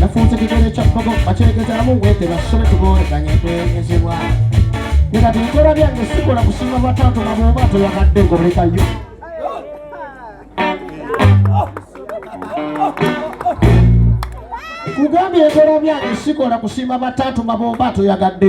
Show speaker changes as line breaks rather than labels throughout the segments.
nafunze kigere kya bbogo bakyegezaamu wete basome tuboolekanye twegezebwa era byenkola byange sikola kusinga bwatato nga bwoba toyagadde ngolekayo kugambye enkola byange sikola kusiima bataatu nga bwoba toyagadde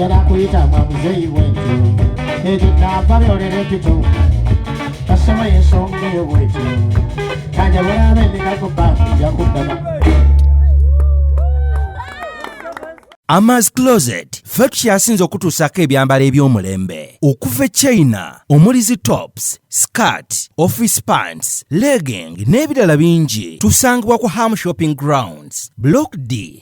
njala kuyita mwa muzeeyi wentu ekyo nava byolera ekito kasoma
yensonga eyo bwekyo kanja bweraaba emikago bank nja kuddaba Amaz Closet ffe tukyasinze okutuusaako ebyambalo eby'omulembe okuva e China omuli zi tops skirt office pants legging n'ebirala bingi tusangibwa ku ham shopping grounds block d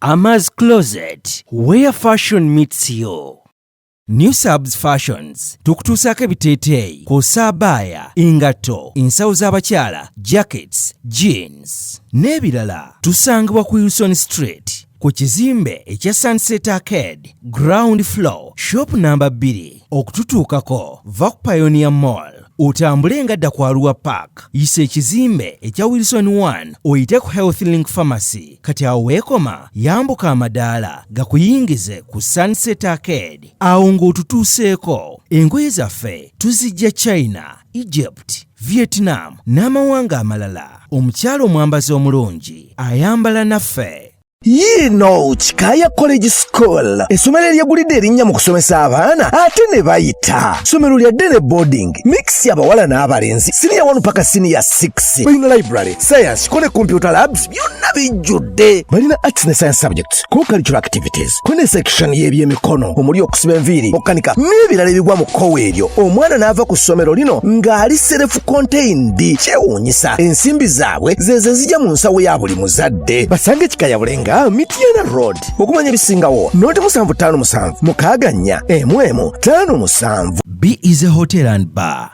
Ama's Closet, where fashion meets you. New Subs Fashions tukutuusaako ebiteeteeyi kw'ossa abaaya, engatto, ensawo z'abakyala, jackets, jeans n'ebirala. Tusangibwa ku Wilson Street ku kizimbe ekya Sunset Arcade ground floor shop namba 2. Okututuukako va ku Pioneer Mall otambule nga dda ku Arua Park, yisa ekizimbe ekya Wilson 1 oyite ku Health Link Pharmacy. kati awo weekoma yambuka amadaala gakuyingize ku sunset arcade awo ng'otutuuseeko engoye zaffe tuzijja china egypt vietnam n'amawanga amalala omukyala omwambazi omulungi ayambala naffe yiino
kikaaya college school essomero eryegulidde erinnya mu kusomesa abaana ate ne bayita ssomero lya dene boarding mix abawala n'abalenzi siniya 1 paka siniya 6 balina library science kone computer labs byonna bijjudde balina arts ne science subjects co-cultural activities kune section y'ebyemikono omuli okusiba enviiri okukanika n'ebirala ebigwa mu kkowa eryo omwana n'ava ku ssomero lino ng'ali serefu contained kyewuunyisa ensimbi zaabwe zezo ezija mu nsawo ya buli muzadde basange kikayabule nga mityana road okumanya ebisingawo noti musanvu ttaano musanvu mukaaga nnya emu emu ttaano musanvu b is a
hotel and bar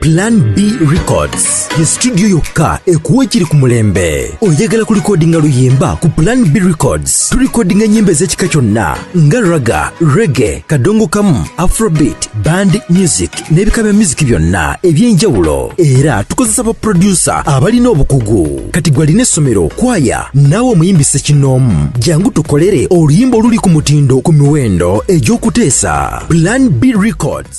Plan B
Records ye studio yokka ekuwa ekiri ku mulembe. Oyagala ku likodinga luyimba ku Plan B Records tulikodinga ennyimba ez'ekika kyonna nga raga, rege, kadongo kamu, afrobeat, band music n'ebika bya muziki byonna eby'enjawulo. Era tukozesa baproducer abalina obukugu. Kati gwe alina essomero, kwaya naawe omuyimbi ssekinnoomu, jangu tukolere oluyimba oluli ku mutindo ku miwendo egy'okuteesa. Plan B Records.